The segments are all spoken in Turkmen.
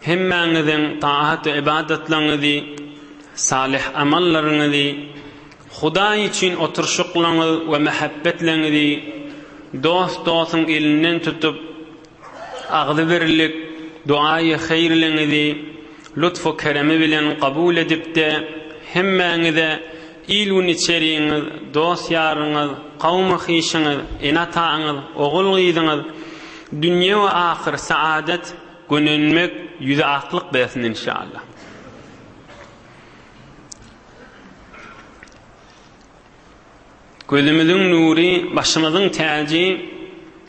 Hemmäňiziň taat we ybadatlaryňyzy, salyh amallaryňyzy, Hudaý üçin oturyşyklaryňyz we mähebbetleriňizi dost dostuň elinden tutup, agzybirlik, duaýy haýrleriňizi lutfu keremi bilen kabul edip-de, hemmäňize il-gün içerigiňiz, dost-ýaryňyz, kawmy-hyşyňyz, ene-ataňyz, ogul-gyzyňyz, dünýe we ahyr saadat, Gönenmek ýüze aklyk bersin inşallah. Gözümiziň nury başymyzyň täji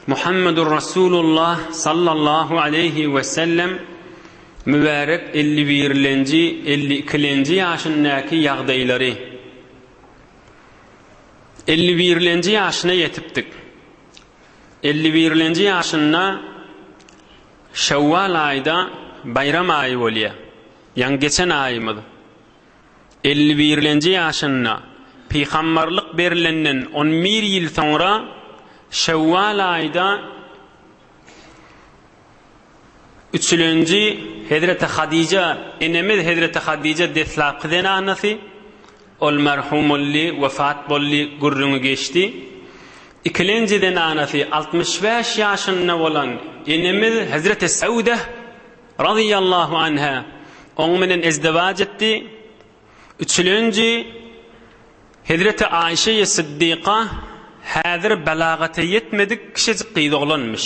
Muhammedur Rasulullah sallallahu aleyhi we sellem mübärek 51-lenji 52-lenji ýaşyndaky ýagdaýlary 51-lenji ýaşyna ýetipdik. Elli birlenji ýaşynda Şewwal aýda baýram aýy bolýa. Ýaňy geçen aýymyz. Elli birlenji ýaşynda, pygambarlyk berlenden on bir ýyl soňra Şewwal aýda, Üçülenji, Hezreti Hadija enemiz Hezreti Hadija deslapky zenanasy, ol merhum boldy, wepat boldy, gürrüňi geçdi. Ikilenji zenanasy altmyş bäş ýaşynda bolan enemiz Hezreti Sewdeh razyýallahu anha oň bilen ezdewaç etdi. Üçülenji, Hezreti Aişeýe Siddyka häzir belagata ýetmedik kişejik gyz oglanmyş.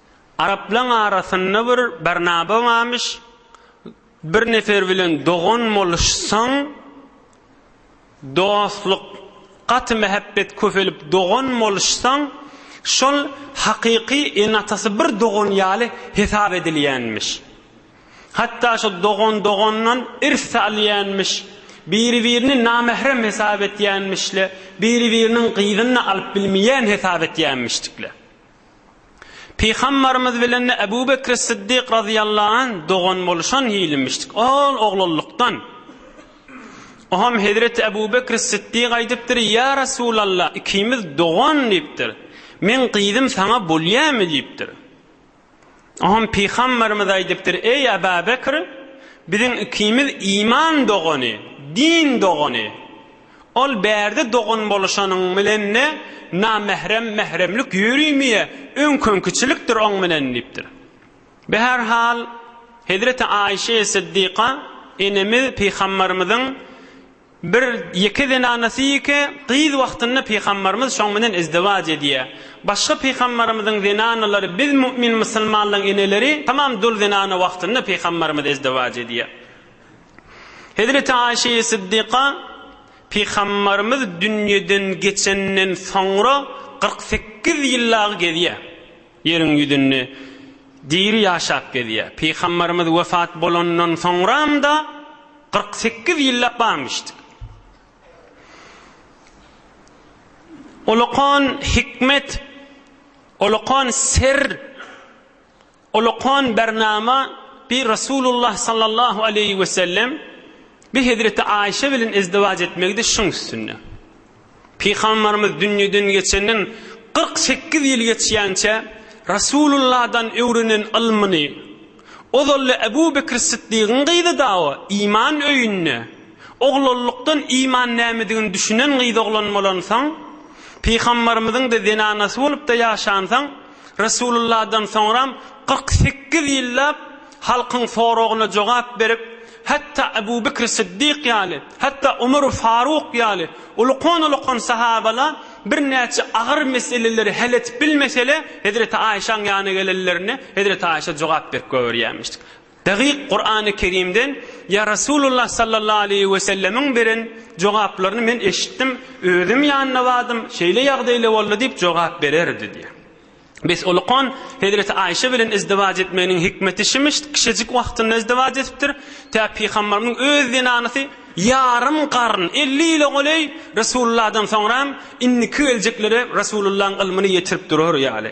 Araplaň arasynda bir Barnaba barmyş, bir nefer bilen dogan boluşsaň, dostluk, gaty mähebbet köpelip dogan boluşsaň, şol hakyky ene-atasy bir dogan ýaly hesap edilýänmiş. Hatda şo dogan dogandan irs-de alýanmyş, biri-birini namährem hesap etýänmişle, biri-biriniň gyzyny-da alyp bilmeýän hesap etýänmişdikle. Pygambarymyz bilen Ebu Bekri Syddyk razyýallahu anh dogan boluşan hilimişdik. Ol oglanlykdan. Oňam Hezreti Ebu Bekri Syddyk aýdypdyr, Ýa Resulallah, ikimiz dogan diýipdir. Meň gyzym saňa bolýamy diýipdir. Hon Pygamberimiz aýdypdyr, Eý Aba Bekr, biziň ikimiz iman dogany, din dogany. Ol bärde dogan boluşanyň bilende namährem mähremlik ýörümiýe, öňkenkiçilikdir oň bilen diýipdir. Bi her hal Hezreti Aişe Siddiqa enemiz Pygamberimiziň, Bir ýeke zenanasy ýeke gyz wagtynda pygambarymyz şoň bilen izdiwaç edýär. Başga pygambarymyzyň zenanalary biz mu'min musulmanlaň eneleri tamam dul zenana wagtynda pygambarymyz izdiwaç edýär. Hezreti Aişeýi Siddiqa pygambarymyz dünýeden geçenden soňra kyrk sekiz ýyl dagy gezýär. Ýeriň ýüzünde diri ýaşap gezýär. Pygambarymyz wepat bolandan soňram-da kyrk sekiz ýyllap barmyşdyk. Olakan hikmet, olakan ser, olakan bernama bi Resulullah sallallahu aleýhi we sellem bi hezreti Aýşe bilen ezdiwaç etmegidi şuň üstünde. Pygamberimiz dünýeden geçenden kyrk sekiz ýyl geçýänçä Rasulullahdan öwrenen ylmyny, ozalda Ebu Bekr Syddygyň gyzy dagy iman öýünde, oglanlykdan iman nämedigini düşünen gyz oglan bolansoň, Pygamberimiziň-de zenanasy bolup-da ýaşansoň, Resulylladan soňram kyrk sekiz ýyllap halkyň soragyna jogap berip, hatda Ebu Bekri Syddyk ýaly, hatda Omary Faruk ýaly ulukan-ulukan sahabala birnäçe agyr meseleleri hel edip bilmesele, hezreti Aýşaň ýanyna gelenlerinde hezreti Aýşa jogap berip goýberýärmişdi. Dagyk Kurany Kerimden ýa Rasulullah sallallahu aleýhi we sellemiň beren jogaplaryny men eşitdim, özüm ýanynda bardym, şeýle ýagdaýla boldy diýip jogap bererdi diýýär. Bes Olukon hezreti Aýşe bilen izdiwaj etmeginiň hikmeti şimiş, kişejik wagtynda izdiwaj edipdir, tä pygambarymyň öz zenanysy ýarym garyn, elli ýyla goleý Rasulullahdan soňram indiki geljeklere Rasulullahyň ylmyny ýetirip durar ýaly.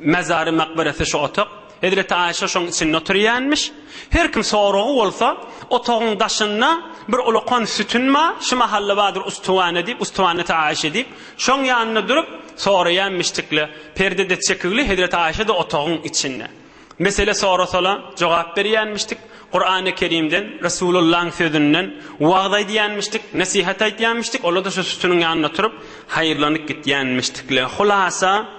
Mezary, makberesi şu otag. Hezreti Aişe şoň içinde oturýanmiş. Her kim soragy bolsa, otagyň daşynda bir ulakan sütün bar, şu mahalla bardyr Ustuhane diýip, Ustuhaneti Aişe diýip, şoň ýanynda durup soraýanmişdikle. Perde-de çekigli, Hezreti Aişe-de otagyň içinde. Mesele sorasala jogap berýänmişdik. Kurany Kerimden, Resulullahyň sözünden wagyz aýdýanmişdik, nesihat aýtýanmişdik, olar-da şu sütüniň ýanynda oturyp haýyrlanyp gitýänmişdikle. Hulasa.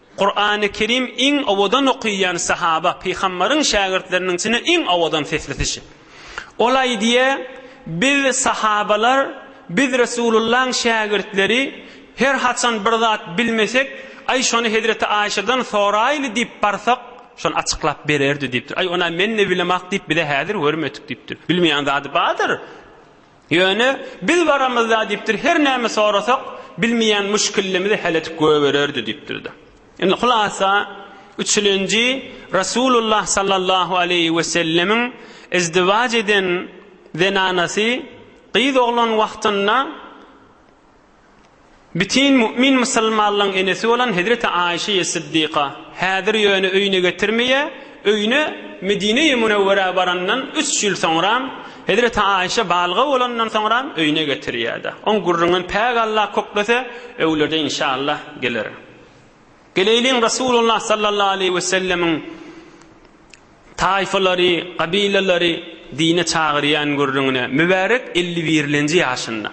Kurany Kerim iň owadan okyýan sahaba, Pygambaryň şägirtleriniň içinde iň owadan sesli kişi. Ol aýdýa, Biz, sahabalar, biz Resulullaň şägirtleri, her haçan bir zat bilmesek, Aý şony hezreti Aýşadan soraýly diýip barsak, şony açyklap bererdi diýipdir. Aý onä men-de bilemok diýip bize häzir görmedik diýipdir. Bilmeýän zady bardyr. Ýöne, biz baramyzda diýipdir, her näme sorasak, bilmeýän müşkillimizi häl edip goýbererdi diýipdir-de. Indi hulasa, üçlenji Resulullah sallallahu aleýhi wesellemiň izdiwaç eden zenanasy gyz oglan wagtynda, Bütin mu'min musulmanlaň enesi bolan hezreti Aişeýe Syddyka, häzir ýöne öýüne getirmeýär, öýüne Medinei Munewwerä barandan üç ýyl soňram, hezreti Aişe balga bolandan soňram öýüne getirýärda. Oň gürrüňin Päk Allah köklese, öwlerde inşallah geler. Geleýliň Resulullah sallallahu aleýhi we sellemiň taýfalary, gabilalary dine çagyrýan gürrüňine, mübärek elli birlenji ýaşynda.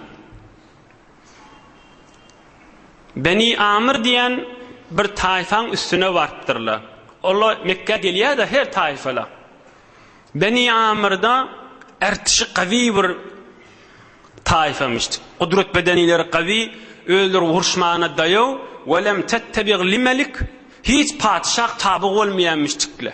Beni Amyr diýen bir taýfaň üstüne barypdyrlar. Ola Mekgä gelýär-de her taýfala. Beni Amyrda ärtişi gawy bir taýfamyş. Gudrat bedenileri gawy, özleri uruşmana daýaw, welem tettebi'l-li melik, hiç patyşah taby bolmaýanmyşdikle.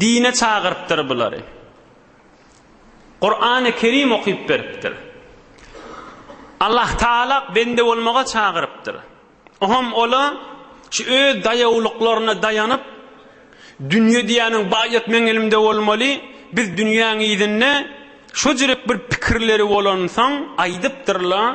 Dine çagyrypdyr bulary. Kur'an-ı Kerim okuyup beripdir. Allah Taala bende bolmaga çagyrypdyr. Oham ola şu öz dayawlyklarına dayanıp dünýe diýäniň baýat meň elimde bolmaly. Biz dünýäň ýüzünde şu jürek bir pikirleri bolansan aýdypdyrlar.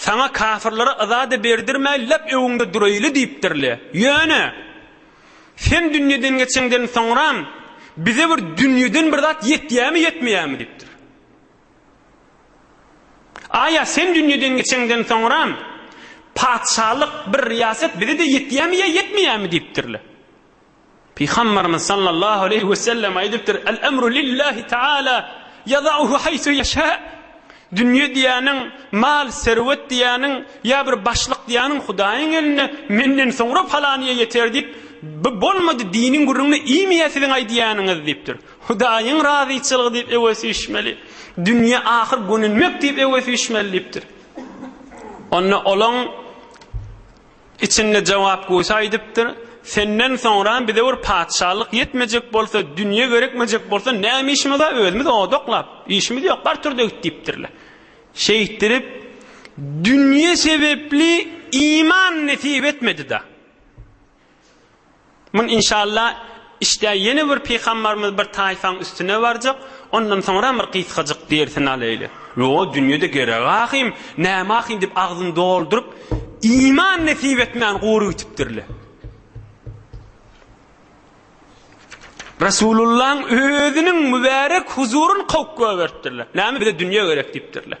Saňa kafirlere yza-da berdirmäý, lep öňüňde duraýly diýipdir-le. Ýöne, Sen dünýeden geçeňden soňram, bize bir dünýeden bir zat ýetýärmi-ýetmeýärmi? diýipdir. Aýa Sen dünýeden geçeňden soňram, patyşalyk, bir riýaset bize-de ýetýärmi ýa ýetmeýärmi? diýipdir-le. Pygamberimiz sallallahu aleýhi we sellem aýdypdyr, Al emru lillahi taala ýadauhu haýsu ýeşa. Dünýe diýýäniň, mal, serwet diýýäniň, ýa bir başlyk diýýäniň Hudaýyň elinde, menden soňra palanyýa ýeter diýip, bu bolmady, diniň gürrüňini iýmeýär siziň aýdýanyňyz diýipdir. Hudaýyň razyçylygy diýip ewe süýşmeli. Dünýe ahyr gönenmek diýip ewe süýşmeli diýipdir. Onda olaň Içinde jogap goýsa aýdypdyr, Senden soňra bize bir patyşalyk ýetmejek bolsa, dünýe gerekmejek bolsa, näme işimiz bar, özümiz oda oklap, işimiz ýok, bar tur-da git diýipdirler. Şeýtdirip, dünýe sebepli iman nesip etmedi-de. Muny inşalla işdä ýene bir pygambarymyz bir taýfaň üstüne barjak, ondan soňram bir gysgajyk dersini alaýly. Ýo, dünýede gerek ahym, näme ahym diýip agzyny dolduryp, iman nesip etmän gury gitipdirle. Resulullahyň özüniň mübärek huzuryny kowup goýberipdirler. Näme bize dünýe gerek diýipdirler.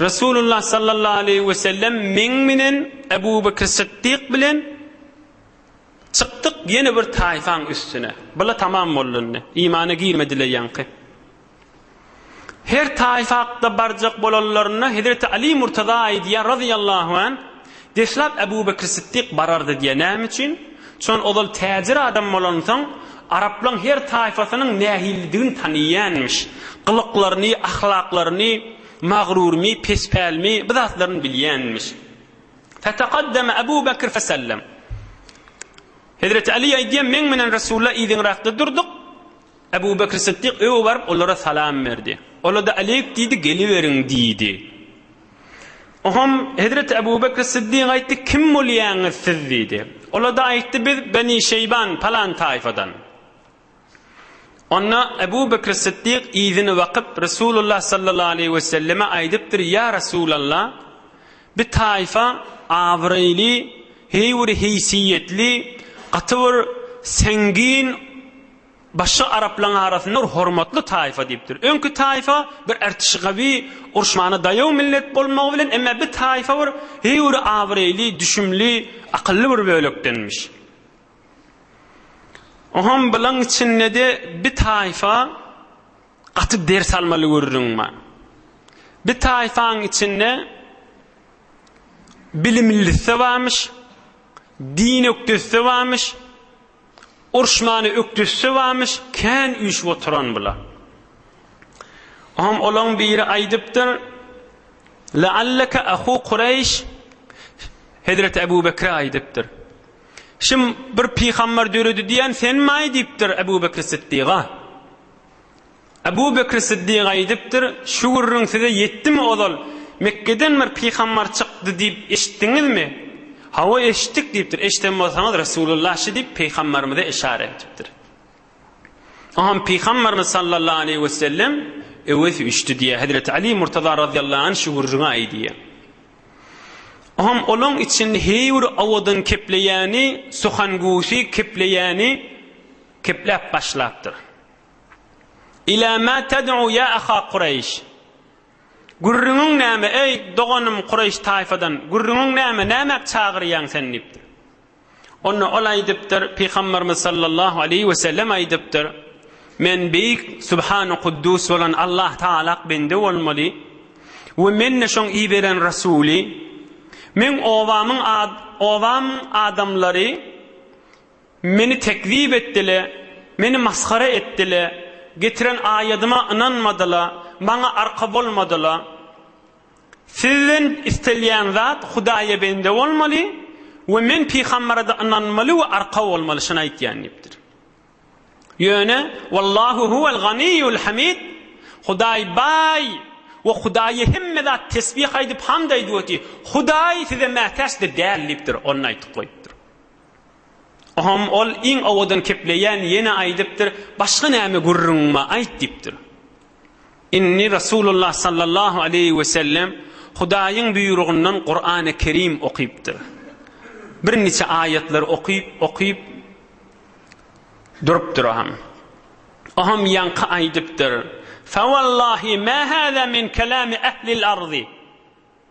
Resulullah sallallahu aleýhi we sellem meň menen Ebu Bekr Sytdyk bilen çykdyk ýene bir taýfaň üstüne. Bula tamam boldy indi. Imana girmediler ýaňky. Her taýfa hakda barjak bolanlarynda Hezreti Ali Murtaza aýdýar razyýallahu an, Deslap Äbu Bekr Sytdyk barardy diýe näme üçin? Çon ozal täjir adam bolansoň, araplaň her taýfasynyň nähilidigini taniýänmiş. Gylyklaryny, ahlaklaryny, magrurmy, pespälmi, bu zatlaryny bilýänmiş. Fetekaddeme Äbu Bekr fesellem. Hezreti Aly aýdýar, men bilen Resulullah yzyňrakda durduk. Ebu Bekr Sytdyk öe baryp, olara salam berdi. Ola-da Aleýk diýdi, Geliberiň! diýdi. Oňham hezreti Ebu Bekr Syddyk aýtdy, Kim bolýaňyz siz? diýdi. Ola-da aýtdy, Biz Beni Şeýban palan taýfadan. Onda Ebu Bekr Syddyk yzyny bakyp, Resulullah sallallahu aleýhi we selleme aýdypdyr, Ýa Resulalla, bi taýfa abraýly, heý bir heýsiýetli, gaty bir seňgin Başga araplaň arasynda bir hormatly taýfa diýipdir. Öňki taýfa bir ertişi gawy, urşmana daýaw millet bolmagy bilen emme bi taýfa bir höwri abraýly, düşümli, akylly bir bölekdenmiş. Oham bilaň içindede bi taýfa gaty ders almaly gürrüň bar. Bi taýfaň içinde bilimlisi barmyş, din ökdesi barmyş. Urşmany ökdüsse bamyş, kän üýşüp oturan bula. Oňam olaň biri aýdypdyr, Lealleke ahu Kureýş Hezreti Ebu Bekre aýdypdyr. Şim bir pygambar döredi diýen senmaý diýipdir Ebu Bekr Siddiga. Ebu Bekr Siddiga aýdypdyr, Şu gürrüň size ýetdimi ozal, Mekgeden bir pygambar çykdy diýip eşitdiňizmi? Hawa, eşitdik diýipdir. Eşiden bolsaňyz, Resulullah şi diýip, pygambarymyza yşara etipdir. Oňam pygambarymyz sallallahu aleýhi wesellem, Öwez üçdi diýýär. Hezreti Ali Murtaza razyýallahu anh şu gürrüňi aýdýar. Oňam olaň içinde heý bir owadan kepleýäni, suhangusy kepleýäni kepläp başlapdyr. Ilâ mâ ted'û yâ ahâ Kureyş? Gürrüňiň näme, eý, doganym Kureýş taýfadan, gürrüňiň näme, nämäk çagyrýaň sen? diýipdir. Onda ol aýdypdyr, Pygamberimiz sallallahu aleýhi we sellem aýdypdyr, Men beýik, subhanu kuddus bolan Allah Tagalak bende bolmaly we men-de şoň iberen Rasuly. Meň obamyň obamyň adamlary, Meni tekzip etdile, meni masgara etdile, getiren aýadyma ynanmadyla, maňa arka bolmadyla. Sizden istelýän zat Hudaýa bende bolmaly we men pygamberede ynanmaly we arka bolmaly, şony aýtýan diýipdir. Ýöne Wallahu huwel ganiýul hamid, Hudaý baý we Hudaýa hemme zat tesbih aýdyp hamd aýdyp oty, Hudaý size mätäç-de däl diýipdir, ony aýtyp goýupdyr. Hom ol iň owadan kepleýän ýene aýdypdyr, Başga näme gürrüňiňmi aýt diýipdir. Indi Resulullah sallallahu aleýhi wesellem Hudaýyň buýrugyndan Kurany Kerim okypdyr. Birniçe aýatlar okyp, okyp durupdyr o hom. O hom ýaňky aýdypdyr, Fa wallahi ma hada min kalami ahlil ardi.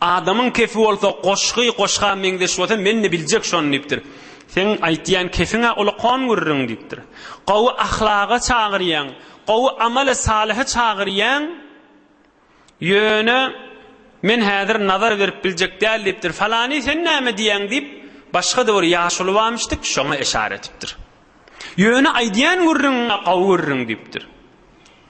Adamyň kefi bolsa goşgy goşga meňzeş bolsa men-de biljek şony diýipdir. Seň aýtýan kefiň-ä ol kon gürrüň diýipdir. Gowy ahlaga çagyrýaň, gowy amala salyha çagyrýaň, ýöne men häzir nazar berip biljek däl diýipdir. Falany sen näme diýýäň diýip, başga-da bir ýaşuly bamyşdyk, şoňa eşara etipdir. Ýöne aýdýan gürrüňiň-ä gowy gürrüň diýipdir.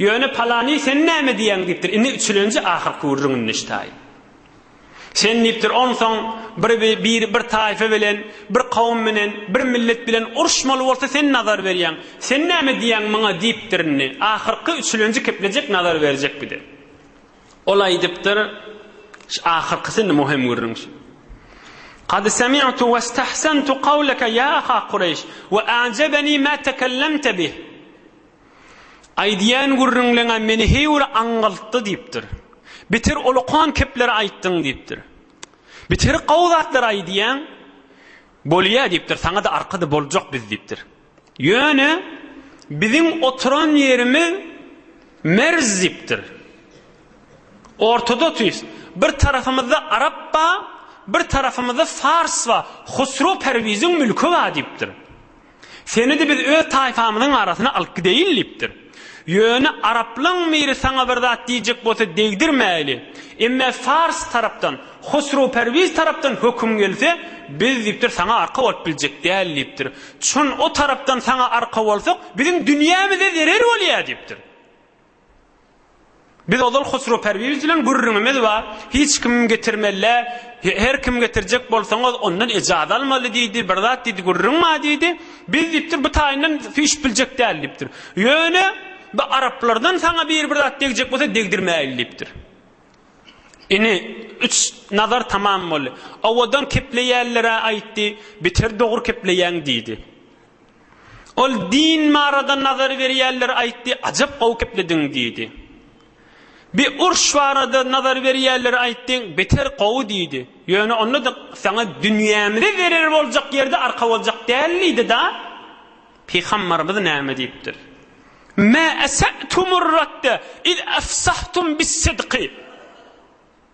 Ýöne palany sen näme diýýäň diýipdir, indi üçülenji ahyrky gürrüň indi ştaý. Sen diýipdir, onsoň bir bir bir taýfa bilen, bir kowum bilen, bir millet bilen uruşmaly bolsa sen nazar berýäň. Sen näme diýýäň muňa diýipdir indi. Ahyrky üçülenji keplejek nazar berjek bir de. Ol aýdypdyr, şu ahyrkysy indi muhim gürrüň şu. Kad semi'tu we istahsantu kawleke ýa aha Kureýş we a'jebeni ma tekellemte bih. Aýdýan gürrüňleňem meni heý bir aňňaltdy diýipdir. Beter olakan kepleri aýtdyň diýipdir. Beter gowy zatlar aýdýaň. Bolýa diýipdir, saňa-da arka-da boljak biz diýipdir. Ýöne biziň oturan ýerimiz merz diýipdir. Ortodotys. Bir tarapymyzda arap bar, bir tarapymyzda fars bar. Husrew Perwiziň mülki bar diýipdir. Seni-de biz öz taýpamyzyň arasyna alyp gideýin diýipdir. Ýöne araplaň miri saňa bir zat diýjek bolsa degdirmäýli. Emme Fars tarapdan, Hosrowperwiz tarapdan höküm gelse, biz diýipdir saňa arka bolup biljek däl diýipdir. Çün o tarapdan saňa arka bolsak, biziň dünýämize zerer bolýar diýipdir. Biz ozal Hosrow Perwiz bilen gürrüňimiz bar, hiç kim getirmelidä, her kim getirjek bolsaňyz, ondan ejaz almaly diýdi, bir zat diýdi, gürrüň bar diýdi. Biz diýipdir, bu taýyndan süýşüp biljek däl diýipdir. Ýöne bu araplardan saňa biri bir zat degjek bolsa degdirmäýil diýipdir. Ine, üç nazar tamam boldy. Owadan kepleýänler-ä aýtdy, beter dogry kepleýäň diýdi. Ol din barada nazar berýänler aýtdy, ajap gowy geplediň diýdi. Bi urş barada nazar berýänler aýtdy, beter gowy diýdi. Ýöne onda-da saňa dünýämize zerer boljak ýerde arka boljak däl diýdi-da. Pygambarymyz näme diýipdir? Mä esä'tumur radde iz efsahtum bis-sidqi.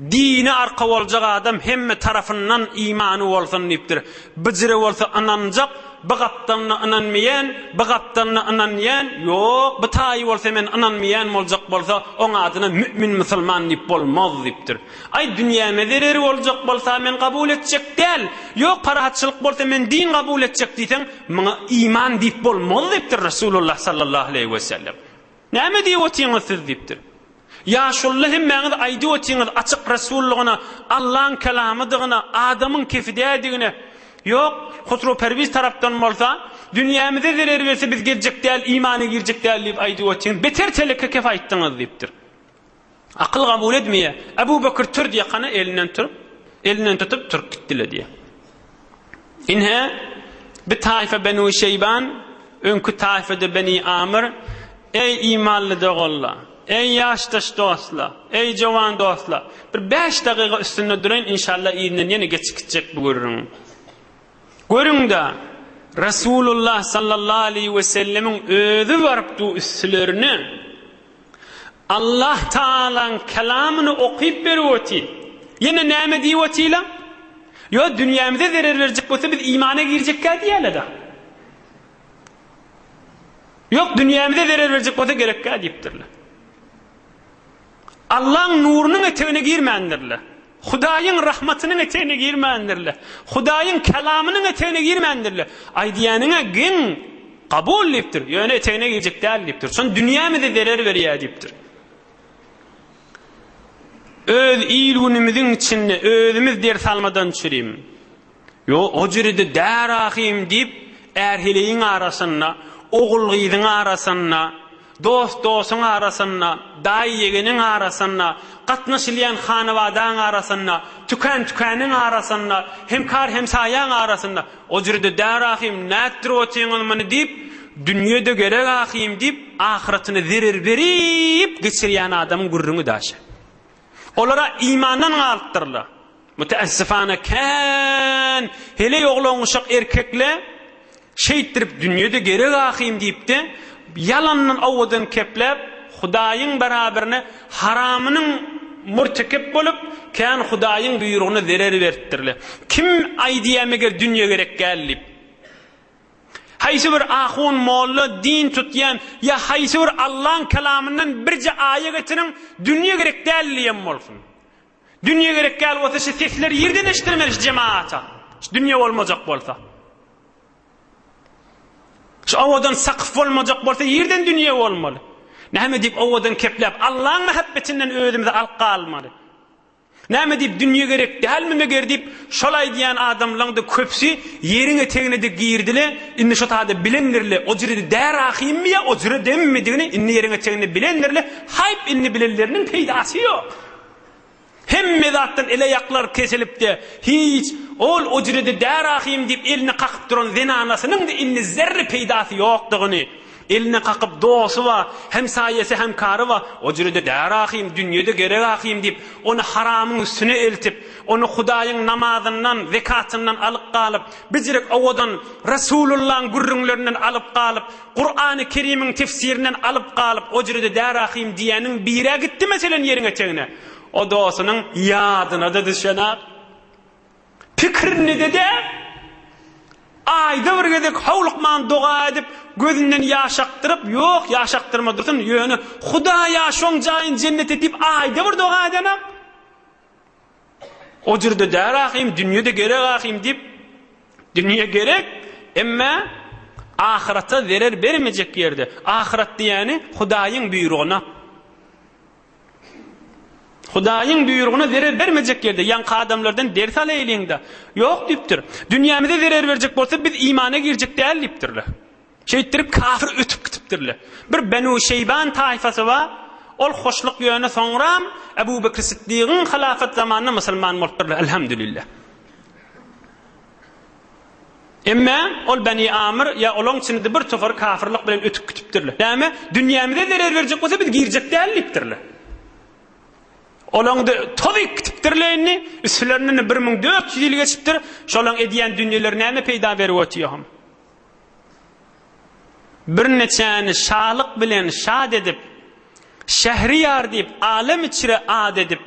Dini arka boljak adam hemme tarafyndan imany bolsun diýipdir. Byjyry bolsa ynanjak, by gapdalyna ynanmeýän, by gapdalyna ynanýan, ýok, by taýy bolsa men ynanmeýän boljak bolsa, oň adyna mü'min musulman diýip bolmaz diýipdir. Aý, dünýäme zereri boljak bolsa men kabul etjek däl, ýok, parahatçylyk bolsa men din kabul etjek diýseň, muňa iman diýip bolmaz diýipdir Resulullah sallallahu aleýhi wesellem. Näme diýip otyňyz siz? diýipdir. Ýaşulyna hemmäňiz aýdyp otyňyz açyk resullygyna, Allaň kelamydygyna, adamyň kefi däldigine. Ýok, Husrow Perwiz tarapdan bolsa, Dünýämize zerer berse biz geljek däl, imana girjek däl diýip aýdyp otyňyz. Beter teleke kep aýtdyňyz diýipdir. Akyl gabul edmeýär. Abu Bakr tur diýýär, hany elinden turup, elinden tutup turup gitdiler diýýär. Inhe bir taýfa Benu Şeýban, öňki taýfada Beni Amr, eý imanly doganlar, eý ýaşdaş dostlar, eý jowan dostlar, bir bäş dagyga üstünde duraýyn, inşallah yzyna ýene geçip gitjek bu gürrüň. Görüň-de, Resulullah sallallahu aleýhi we sellemiň özi barypdy üstlerine. Allah Taalaň kelamyny okyp berip otyr. Ýene näme diýip otyla? Ýo dünýämize zerer berjek bolsa biz imana girjekkä diýäleda. Ýok dünýämize zerer berjek bolsa gerekkä diýipdirler. Allaň nurunyň etegine girmändirler. Hudaýyň rahmatynyň etegine girmändirler. Hudaýyň Kelamynyň etegine girmändirler. Aýdýanyňa geň, kabul diýipdir, ýöne etegine girjek däl diýipdir. Şon dünýämize zerer berýär diýipdir. Öz il-günümiziň içinde özümiz ders almadan çürim. Ýo, o jüri-de däl ahym, diýip, är-heleýiň arasynda, ogul-gyzyň arasynda, dost-dostuň arasynda, daýy-ýegeniň arasynda, gatnaşylýan hanabadaň arasynda, tükän-tükäniniň arasynda, hemkar-hemsaýaň arasynda, o jüri-de däl ahym, nätdirip otyňyz muny, diýip, dünýe-de gerek ahym, diýip, ahyratyny zerer berip geçirýän adamyň gürrüňi daşa. Olar-a imandan galypdyrlar. Müteessifana kän heleý oglangyşak erkekle şeýtdirip dünýede gerek ahym diýipde ýalandan owadan kepläp Hudaýyň beraberine haramynyň murtekep bolup kän Hudaýyň buýrugyna zerer beripdirle. Kim aýdýa meger dünýe gerek däl diýip. Haýsy bir ahun molla din tutýan ýa haýsy bir Allaň kelamyndan birje aýa getiriň dünýe gerek däl diýen bolsun. Dünýe gerek däl bolsa şu sesleri ýerden eşdirmeli şu jemaata. Şu dünýe bolmajak bolsa. Şu owadan sakyf bolmajak bolsa ýerden dünýe bolmaly. Näme diýip owadan kepläp Allaň mähebbetinden özümizi alyp galmaly. Näme diýip dünýe gerek dälmi meger diýip şol aýdýan adamlaňda köpsi ýeriň etegine de girdile indi şu taýda bilendirle o jire där ahymmy ýa o jire demmidigini indi ýeriň eteginde bilendirle haýp indi bilenleriniň peýdasy ýok. Hemme zatdan ele ýaklar kesilipdi. Hiç, ol ojrede därahym diýip elini kakyp duran zenanasynyň-da indi zerre peýdasy ýokdugyny, elini kakyp dosty-a, hemsaýasy, hemkary-a, ojrede därahym, dünýede gerek-ahym diýip, ony haramyň üstüne eltip, ony Hudaýyň namazyndan, zekatyndan alyp galyp, bijirek owadan Resulullaň gürrüňlerinden alyp galyp, Kurany Kerimiň tefsirinden alyp galyp ojrede dä rahym diýäniň birä gitdi meselen ýeriň etegine o dosynyň ýadynada düşenok pikirinide dä aýda bir gezek howlukman doga edip gözünden ýaş akdyryp ýok ýaş akdyrma dursyn ýöne hudaýa şoň jaýyn jennet et diýip aýda bir doga edenok. O jürde däl ahym, dünýede gerek ahym diýip, dünýe gerek, emme ahyrata zerer bermejek ýerde. Ahyrat diýýäni Hudaýyň buýrugyna. Hudaýyň buýrugyna zerer bermejek ýerde ýaňky adamlardan ders alaýlyň-da. Ýok diýipdir. Dünýämize zerer berjek bolsa biz imana girjek däl diýipdirler. Şeýtdirip kafir ötüp gitipdirler. Bir Benu Şeýban taýfasy bar, ol hoşluk ýöne soňram Ebu Bekr Siddigiň halafat zamanynda musulman bolupdyrlar, Elhamdülillah. Emme ol Beni Amr ýa olaň içinde bir tofary kafirlik bilen ötüp gitipdirler. Näme? Dünýämize zerer berjek bolsa biz girjek däl diýipdirler. Olaňda tozyk gitipdirler indi, üstlerinden 1400 ýyl geçipdir, şolaň edýän dünýeleri näme peýda berip otyr hom? Birneçäni şalyk bilen şat edip, Şähriýar diýip alem içre at edip,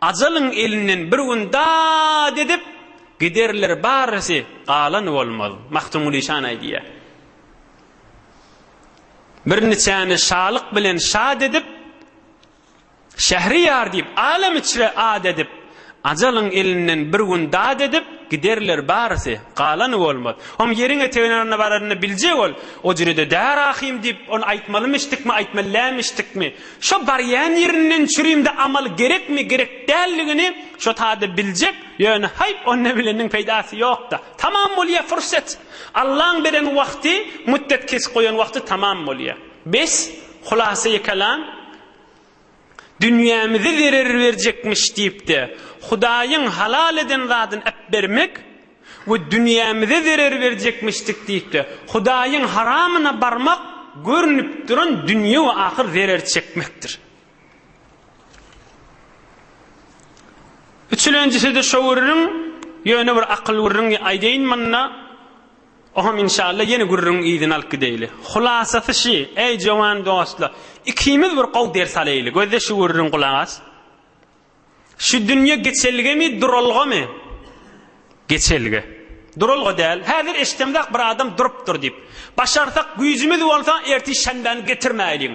Ajalyň elinden bir gün dat edip, Giderler barysy, galan bolmaz. Magtymguly şany aýdýar. Birneçäni şalyk bilen şat edip, Şähriýar diýip, alem içre at edip, Ajalyň elinden bir gün dat edip, Giderler barysy, galany bolmaz. Hom ýeriň etegine baranyny biljek ol, O jürede däl ahym diýip, ony aýtmalymyşdykmy, aýtmalämişdikmi? Şo barýan ýerinden çürimde amal gerekmi, gerek däldigini şo tada biljek, ýöne haý, onda bileniň peýdasy ýok-da. Tamam bolýar furset. Allaň beren wagty, mütdet kesip goýan wagty tamam bolýar. Bes, hulasy kelam, dünýämize zerer berjekmiş diýip-de, Hudaýyň halal eden zadyny äpbermek we dünýämize zerer berjekmişdik diýip-de, Hudaýyň haramyna barmak görnüp duran dünýe we ahyr zerer çekmekdir. Üçülenjisi-de şo gürrüň, ýöne bir akyl gürrüňi aýdaýyn munda. Ohom inşalla ýene gürrüň yzyny alyp gideýli. Hulasasy şi, äý jowan dostlar, ikimiz bir gowy ders alaýly, gözle şu gürrüň gulak as. Şu dünýe geçelgemi, duralgamy? Geçelge. Duralga däl. Häzir eşdemzak bir adam durupdyr diýip. Başarsak güýjümiz bolsa ertir şenbäni getirmäýliň.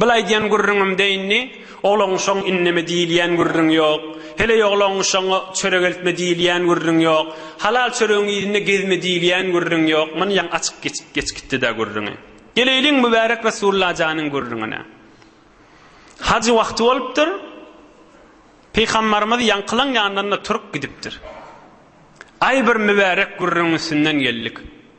Bil aýdýan gürrüňim deýindi, oglaň şoň inneme diýilýän gürrüň ýok. Heleý oglaň şoň çörek eltme diýilýän gürrüň ýok. Halal çöregiň yzynda gezme diýilýän gürrüň ýok. Myn ýaň açyk geçip geç gitdi-dä gürrüňi. Geleýliň Mübärek Resulla janyň gürrüňine. Hajy wagty bolupdyr. Pygambarymyz ýaňkylaň ýanynda turup gidipdir. Aý bir mübärek gürrüň üstünden geldik.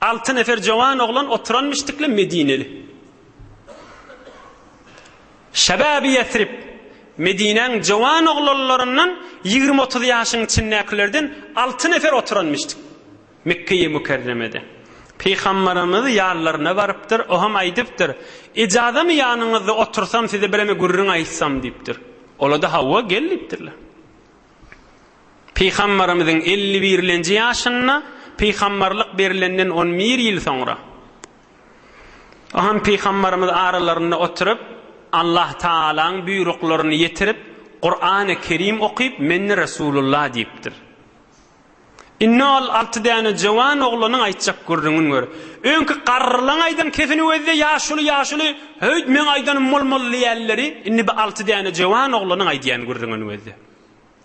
Alty nefer jowan oglan oturan müşdikli medineli. Şebabi Ýesrib, Medinäň jowan oglanlaryndan ýigrimi-otuz ýaşyň içindäkilerden alty nefer oturan müşdik. Mekgeýi Mükerremede. Pygamberimiz ýanlaryna barypdyr, o hem aýdypdyr, Ijazamy ýanyňyzda otursam size bireme gürrüň aýtsam diýipdir. Ola-da hawa gel diýipdirler. Pygamberimiziň elli birlenji ýaşynda, pygamberlik berilenden on bir ýyl soňra. O hem pygamberimiz aralarynda oturyp, Allah Tagalaň buýruklaryny ýetirip, Kurany Kerim okyp, Men-de Resulullah diýipdir. Indi ol alty däne jowan oglanyň aýtjak gürrüňini gör. Öňki garrylaň aýdan kesini gözle, ýaşuly, ýaşuly, Höýt, meň aýdanym bolmaly diýýänleri, indi bu alty däne jowan oglanyň aýdýan gürrüňini gözle.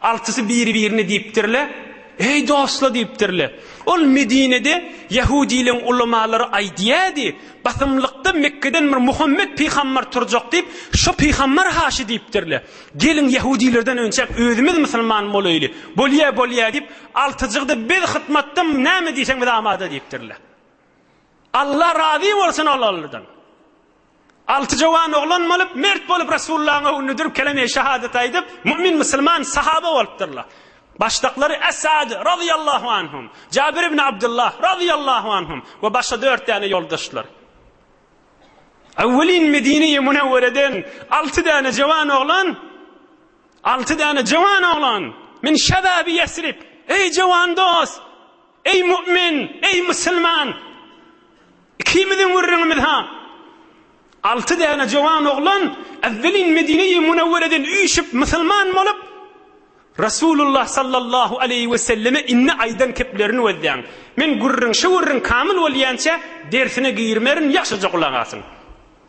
Altysy biri-birine diýipdirler, Eý, dostlar! diýipdirler. Ol Medinede ýehudileriň ulamalary aýdýardy, Basymlykda Mekgeden bir Muhammet pygamber turjak diýip, şo pygamber haşy diýipdirler. Geliň, ýehudilerden önçäk özümiz musulman bolaýly. Bolýar, bolýar diýip, altyjyk-da biz hytmatda näme diýseň biz amada diýipdirler. Alla razy bolsun ol-olardan. Alty jowan oglan bolup, mert bolup Resulullahyň öňünde durup keleme-i şehadet aýdyp, mu'min, musulman, sahaba bolupdyrlar. Başdaklary Es-Sad, razyýallahu anhum, Jabir ibn Abdullah, razyýallahu anhum, we başga dört däne ýoldaşlar. Öwwelin Medine-i Munewwereden alty däne jowan oglan, alty däne jowan oglan, min şebabi Ýesrib, eý jowan dost! Eý mu'min, eý musulman! Ikimiziň gürrüňimiz-ha, alty däne jowan oglan ewwelin Medine-i Munewwereden üýşüp musulman bolup, Resulullah sallallahu aleýhi we selleme indi aýdan keplerini gözläň. Men gürrüň, şu gürrüň kamyl bolýança dersine girmerin, ýagşyja gulak asyň.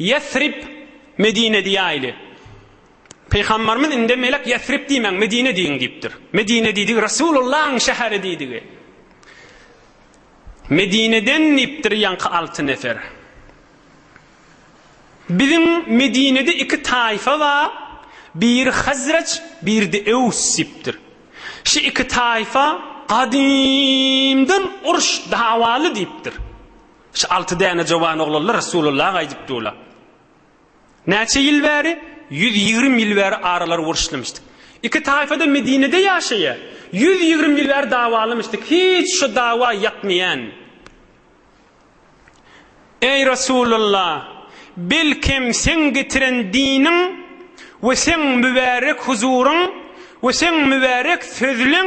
Ýesrib, Medine diýäýli. Pygambarymyz indi melek Ýesrib diýmäň, Medine diýiň diýipdir. Medine diýdigi Resulullahyň şäheri diýdigi. Medineden diýipdir ýaňky alty nefer. Biziň Medinede iki taýfa bar, biri Hazreç, biride Ews diýipdir. Şu iki taýfa gadymdan uruş dawaly diýipdir. Şu alty däne jowan oglanlar Resulalla gaýdyp durlar. Näçe ýyl bäri? Ýüz ýigrimi ýyl bäri aralary uruşlymyşdyk. Iki taýfa-da Medinede ýaşaýar. Ýüz ýigrimi ýyl bäri dawalymyşdyk. Hiç şu dawa ýakmaýan. Eý Resulalla! Belkem seň getiren diniň we seň mübärek huzuryň we seň mübärek sözleň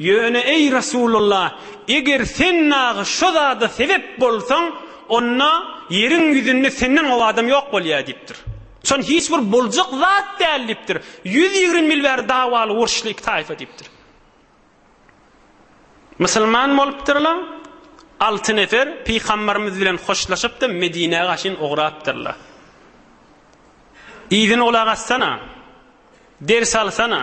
Ýöne, eý, Resulalla, eger sen dagy şo zada sebep bolsaň, onda ýeriň ýüzünde senden gowy adam ýok bolýar diýipdir. Şony hiç bir boljak zat däl diýipdir. Ýüz ýigrimi ýyl bäri dawaly, uruşly iki taýfa diýipdir. Musulman bolupdyrlar, alty nefer pygambarymyz bilen hoşlaşyp-da Medinä gaşyn ugrapdyrlar. Yzyna gulak assana, ders alsana!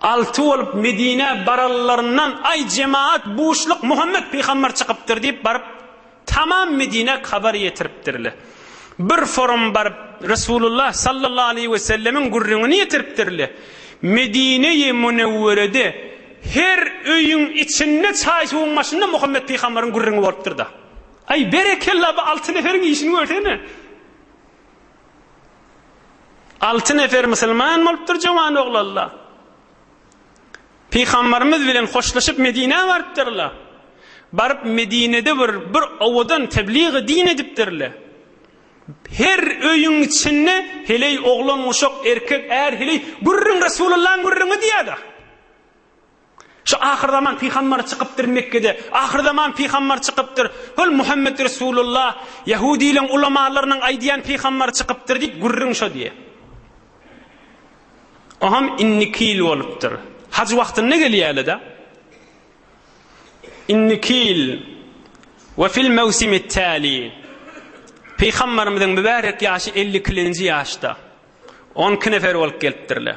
Alty bolup Medinä baralylaryndan, Aý, jemagat, buşluk, Muhammet pygamber çykypdyr diýip baryp, tamam Medinä habar ýetiripdirler. Bir forum baryp, Resulullah sallallahu aleýhi wesellemiň gürrüňini ýetiripdirler. Medineýi Münewwerede her öýüň içinde çaý-suwuň başynda Muhammet pygamberiň gürrüňi bolupdyr-da. Aý, berekella, bu alty neferiň işini görsene! Alty nefer musulman bolupdyr jowan oglanlar. Pygambarymyz bilen hoşlaşyp Medinä barypdyrlar. Baryp Medinede bir bir owadan tebligy din edipdirler. Her öýüň içinde heleý oglan uşak erkek är heleý gürrüň Resulullahyň gürrüňi diýýärdi. Şu ahyrzaman pygambar çykypdyr Mekgede. Ahyrzaman pygambar çykypdyr. Hol Muhammet Resulullah, ýahudylaryň ulamalarynyň aýdýan pygambar çykypdyr diýip gürrüň şo diýýä. Oham indiki ýyl bolupdyr. Haj wagtynda gelýärler-de. Indiki ýyl we fil mewsimi täli. Pygambarymyzyň mübärek ýaşy elli ikilenji ýaşda. On iki nefer bolup gelipdirler.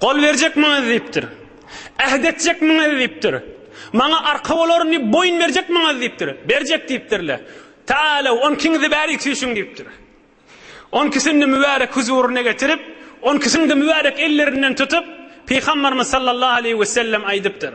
Gol berjekmiňiz diýipdir. Äht etjekmiňiz diýipdir. Maňa arka bolaryn diýip boýun berjekmiňiz diýipdir. Berjek diýipdirle. Taala on ikiňizi bärik süýşüň diýipdir. On ikisini mübärek huzuryna getirip, on ikisini-de mübärek ellerinden tutup, Pygamberimiz sallallahu aleýhi wesellem aýdypdyr.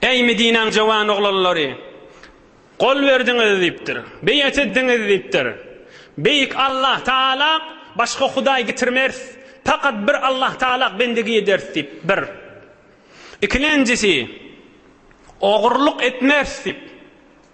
Eý, Medinäň jowan oglanlary! Gol berdiňiz diýipdir. Beýat etdiňiz diýipdir. Beýik Allah Tagala başga hudaý getirmeris, pakat bir Allah Tagala bendigi ederis diýip, bir. Ikilenjisi, Ogurlyk etmeris diýip.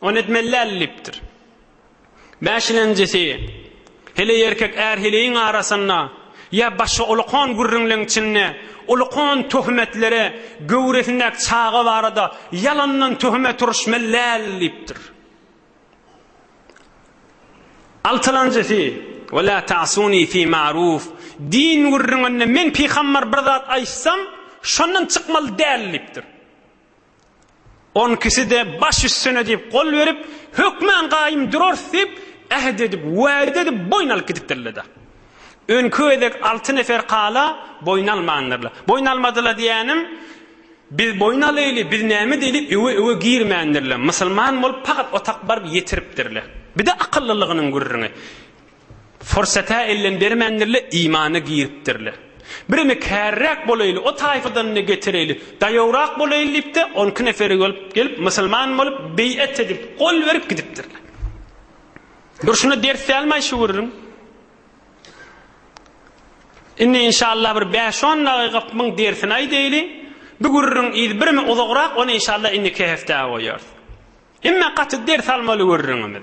Ony etmeli däl diýipdir. Bäşilenjisi, Heleý erkek är-heleýiň arasynda ýa başga ulukan gürrüňleň içinde ulukan töhmetlere göwresindäki çaga barada ýalandan töhmet uruşmaly däl diýipdir. Altylanjysy, Ve la ta'suni fi ma'ruf, Din gürrüňinde men pygamber bir zat aýtsam, şondan çykmaly däl diýipdir. On ikisi-de baş üstüne diýip gol berip, hökmän gaýym durarys diýip, äht edip, wada edip boýun alyp gidipdirler-de. Öňki gezek alty nefer kala boýun almandyrlar. Boýun almadylar diýýänim, biz boýun alaýly, biz näme diýeli öwe-öwe girmändirler. Musulman bolup pagat otak baryp ýetiripdirler. Bir-de akyllylygynyň gürrüňi. Fursata ellem bermändirler, imana giripdirler. Birimi käriräk bolaýly, o taýfadanyny getireýli, daýawrak bolaýly diýip-de, on iki neferi bolup gelip, musulman bolup, beýat edip, gol berip gidipdirler. Durşuna ders dälmaý şu gürrüň. Indi inşallah bir bäş-on dagyk muň dersini aýdaýly. Bu gürrüň yz birimi uzagrak, ony inşallah indiki hepdä goýarys. Emme gaty ders almaly gürrüňimiz.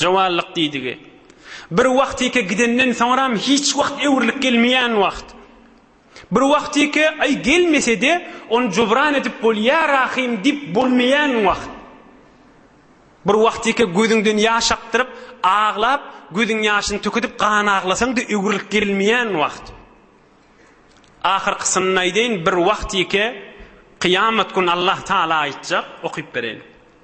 Jowanlyk diýdigi, bir wagtyky gidenden soňram hiç wagt öwrülip gelmeýän wagt. Bir wagtyky, aý, gelmese-de, ony jubran edip bolýar ahyryn diýip bolmaýan wagt. Bir wagtyky gözüňden ýaş akdyryp, aglap, gözüň ýaşyny tükidip gan aglasaň-da öwrülip gelmeýän wagt. Ahyrkysyny aýdaýyn, bir wagtyky, kyýamat gün Allahtagala aýtjak, okyp bereýin.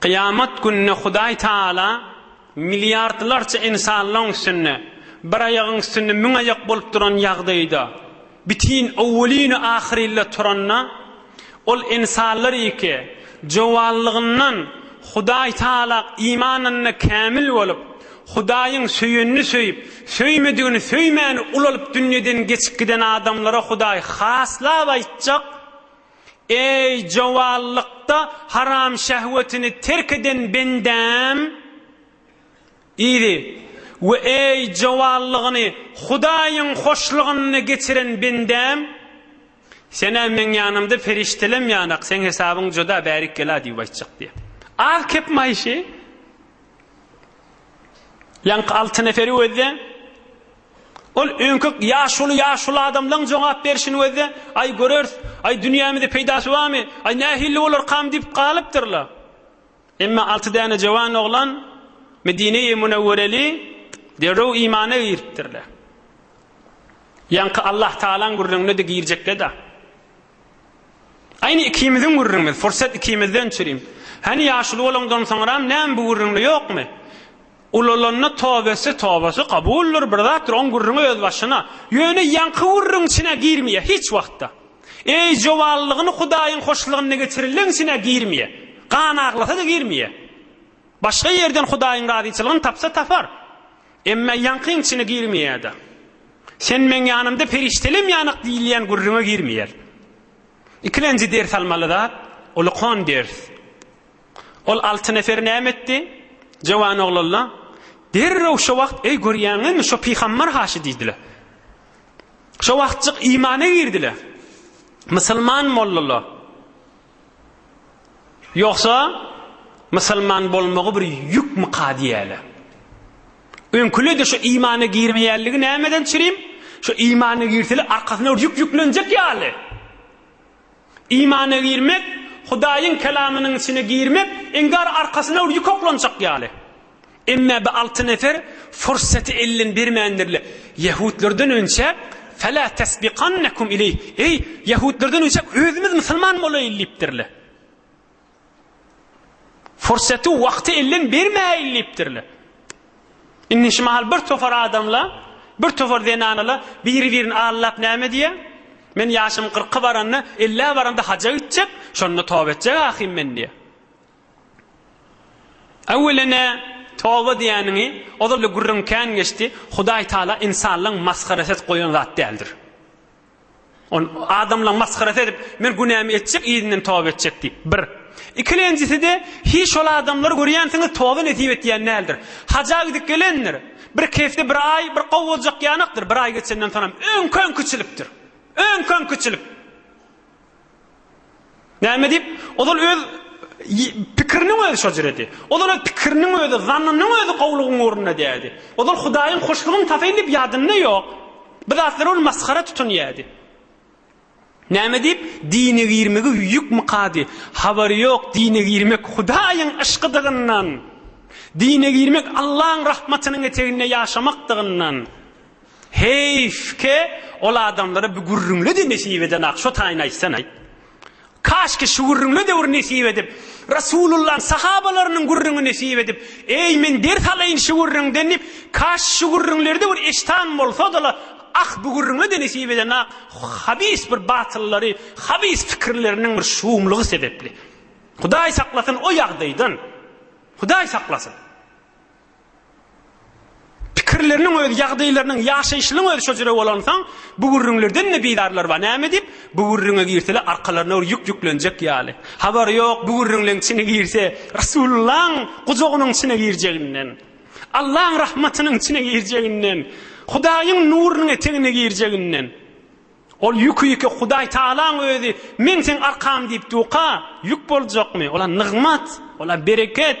Kyýamat gününe Hudaý Tagala milliardlarça insanlaň üstünde, bir aýagyň üstünde müň aýak bolup duran ýagdaýda, bitin owwelinu ahyrilla turanda, ol insanlar iki jowallygyndan Hudaý Tagala imanynda kämil bolup, Hudaýyň söýenini söýüp, söýmedigini söýmäni ulalyp dünýeden geçip giden adamlara Hudaý haslap aýtjak, Eý, jowallykda haram şähwetini terk eden bendäm! Yzy, we eý, jowallygyny Hudaýyň hoşlygynda geçiren bendäm! Sen-ä meň ýanymda perişdelem ýanak, seň hesabyň juda bärik-gela diýip aýtjak diýýär. Az kep maýyşy, ýaňky alty neferi özde. Ol öňki ýaşuly ýaşuly adamlaň jogap berşini gözde, Aý, göreris. Aý, dünýämize peýdasy barmy? Aý, nähilli bolarkam diýip galypdyrlar. Emma alty däne jöwan oglan Medine-i Münewwereli derrew imana giripdirler. Ýaňky Allahtagalaň gürrüňine-de girjekler-de. Aýny ikimiziň gürrüňimiz, pursat ikimizden çürim. Hany ýaşuly bolaňdan soňram näme bu gürrüňde ýokmy? Ulalanda tobesi tobasy kabuldyr, bir zatdyr, oň gürrüňi öz başyna. Ýöne ýaňky gürrüň içine girmeýär hiç wagtda. Eý jowanlygyny Hudaýyň hoşlygynda geçirenleň içine girmeýär. Gan aglasa-da girmeýär. Başga ýerden Hudaýyň razyçylygyny tapsa tapar. Emma ýaňkyň içine girmeýär-de. Sen meň ýanymda perişdelem ýanyk diýilýän gürrüňe girmeýär. Ikilenji ders almaly zat, ol okan ders. Ol alty nefer näme etdi? Jowan oglanlar derrew şo wagt eý görýäňizmi şo pygambar haşy diýdiler. Şo wagtjyk imana girdiler. Musulman mollalar. Ýogsa, musulman bolmagy bir ýükmika diýäýle. Öňküle-de şu imana girmeýänligi nämeden çirim? Şu imana girseli arkasyna bir ýük ýüklenjek ýaly. Imana girmek, Hudaýyň kelamynyň içine girmek, iňgar arkasyna bir ýük oklanjak ýaly. Emma bi alty nefer fursaty elden bermändirler. Ýehudlardan önçe Fela tesbiqannekum ileýh, eý, ýehudlardan önçe özümiz musulman bolaýyl diýipdirler. Fursaty, wagty elden bermäýil diýipdirler. Indi şu mahal bir topar adamla, bir topar zenanala biri-birini allap näme diýýär? Men ýaşym 40-a baranda, 50-ä baranda haja gitjek, şonda toba etjek ahym men diýýär. Öwwelene toba diýäniňi ozal-da gürrüň kän geçdi, Hudaý Taala ynsanlaň masgarasy edip goýan zat däldir. Ol adamlaň masgarasy edip, men günämi etjek, yzyndan toba etjek diýip, bir. Ikilenjisi-de, hiý şol adamlary görýänsiňiz, toba nesip etýän däldir. Haja gidip gelendir. Bir kefde bir aý, bir gowy boljak ýanakdyr, bir aý geçenden soňam öňki-öňkiçilikdir. Öňki-öňkiçilik. Näme diýip? Ozal öz pikiriniň özi şo jüredi. Ozal öz pikiriniň özi, zannynyň özi gowlugyň ugrunda diýdi. Ozal Hudaýyň hoşlugyny tapayyn diýip ýadynda ýok. Bu zatlary ol masgara tutun diýdi. Näme diýip? Dine girmegi ýük mykady. Habary ýok, dine girmek Hudaýyň yşkydygyndan. Dine girmek Allaň rahmatynyň eteginde ýaşamakdygyndan. Heýf ke ol adamlara bi gürrüňle-de nesip edenok şo taýyny aýtsanaý. Kaşki şu gürrüňle de bir nesip edip, Rasulullaň sahabalarynyň gürrüňi nesip edip, eý men ders alaýyn şu gürrüňden diýip, kaş şu gürrüňlerde bir eşitan bolsadala, ah bi gürrüňle-de nesip edenok, habis bir batyllary, habis pikirleriniň bir şuumlygy sebepli. Hudaý saklasyn o ýagdaýdan. Hudaý saklasyn. Pikirleriniň özi, ýagdaýlarynyň, ýaşaýşynyň özi şo jüre bolansoň, bu gürrüňlerden-de bidarlar bar. Näme diýip, bu gürrüňe girseler, arkalaryna bir ýük ýüklenjek ýaly. Habary ýok, bu gürrüňleň içine girse, Resulullahyň gujagynyň içine girjeginden, Allaň rahmatynyň içine girjeginden, Hudaýyň nurunyň etegine girjeginden. Ol ýüki-ýüke Hudaý Tagalaň özi, Men seň arkaň diýip duka, ýük boljakmy? Ol-a nygmat, ol-a bereket.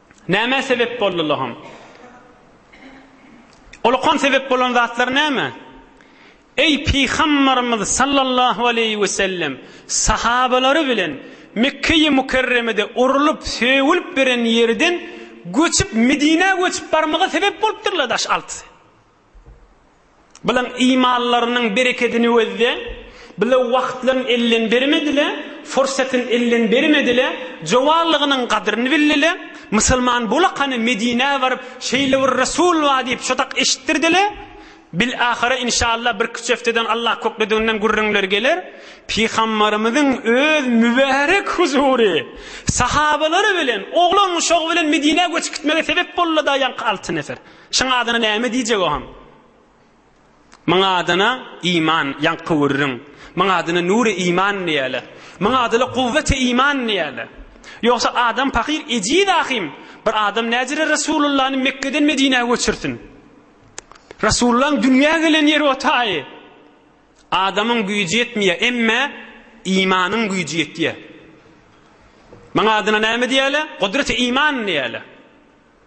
Nämä sebep boldy Loham? O Lohan sebep bolan zatlar näme? Eý Pygambarymyz sallallahu aleýhi we sellem sahabalary bilen Mekgeýi Mukerremede urlup, sögülip beren ýerden göçüp Medinä göçüp barmaga sebep bolupdyrlar daş altysy. Bilen imanlarynyň berekedini wezde, bile wagtlaryny elden bermedile, fursatyny elden bermedile, jowanlygynyň gadryny bildile, musulman bolakany Medinä baryp, şeýle bir Resul bar diýip şodak eşitdirdile, bilahara inşallah bir küç hefteden Allah köklediginden gürrüňler geler, Pygambarymyzyň öz mübärek huzury, sahabalary bilen, oglan-uşagy bilen Medinä göçüp gitmegi sebep bolulada ýaňky alty nefer. Şyň adyna näme diýjek oham? Myň adyna Iman, ýaňky gürrüň. Myň adyna Nury Iman diýäler. Myň adyla Kuwweti Iman diýäler. Ýogsa adam pakyr ejiz ahym. Bir adam näjere Resulullany Mekgeden Medinä göçürsin? Resulullaň dünýä gelen ýeri o taýy. Adamyň güýji ýetmeýär, emme Imanyň güýji ýetýär. Myň adyna näme diýäler? Gudreti Iman diýäler.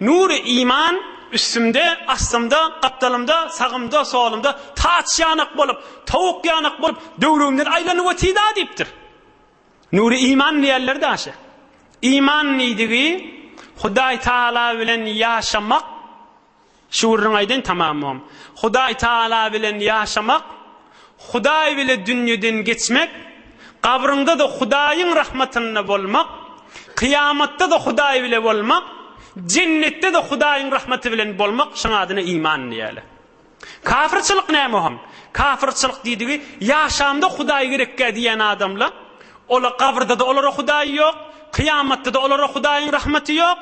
Nury iman üstümde, astymda, gapdalymda, sagymda, solumda taç ýanak bolup, towuk ýanak bolup, döwrümden aýlanyp otida diýipdir. Nury iman diýerler daşy. Iman diýdigi Hudaý Taala bilen ýaşamak, şu gürrüňi aýdaýyn tamamam. Hudaý Taala bilen ýaşamak, Hudaý bile dünýeden geçmek, gabryňda-da Hudaýyň rahmatynda bolmak, kyýamatda-da Hudaý bile bolmak, jennetde-de Hudaýyň rahmaty bilen bolmak, şoň adyna iman diýýärler. Kafyrçylyk näme oňa? Kafyrçylyk diýdigi, ýaşamda Hudaý gerekgä diýýän adamla, ola gabrda-da olara Hudaý ýok, kyýamatda-da olara Hudaýyň rahmaty ýok,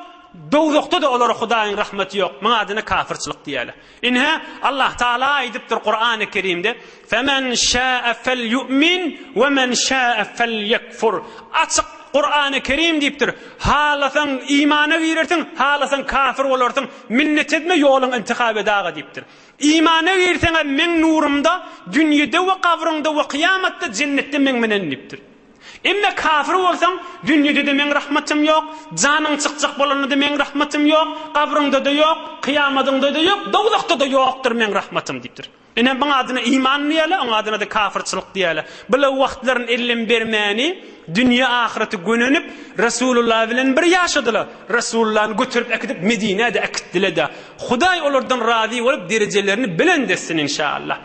dowzahda-da olara Hudaýyň rahmaty ýok, muňa adyna kafyrçylyk diýýärler. Ine, Allahtagala aýdypdyr Kurany Kerimde, Femen şäe felýu'min we men şäe felýekfur. Açyk Kurany Kerim diýipdir, Halasaň imana girersiň, halasaň kafir bolarsyň, minnet etme, ýoluň intihap et aga diýipdir. Imana girseňem meň nurumda, dünýede we gabryňda we kyýamatda, jennetde meň menen diýipdir. Emme kafir bolsaň, dünýede-de meň rahmatym ýok, janyň çykjak bolanda-da meň rahmatym ýok, gabryňda-da ýok, kyýamadyňda-da ýok, dowzahda-da ýokdur meň rahmatym diýipdir. Ine, muň adyna iman diýerler, oň adyna-da kafirçilik diýerler. Bula wagtlaryn ellem bermäni, dünýe-ahyrata gönenip, Resulullah bilen bir ýaşadylar. Resulullany göterip äkidip Medinä-de äkitdiler-de. Hudaý olardan razy bolup, derejelerini belent etsin, inşa Allah.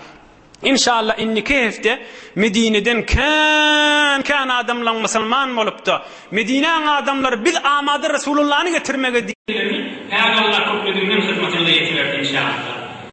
Inşallah indiki hepde Medineden kän kän adamlaň musulman bolupda Medinäň adamlary biz amada Resulullany getirmege diýermi? Häli Allah köplediginden hyzmatyňyza ýetiberin inşallah.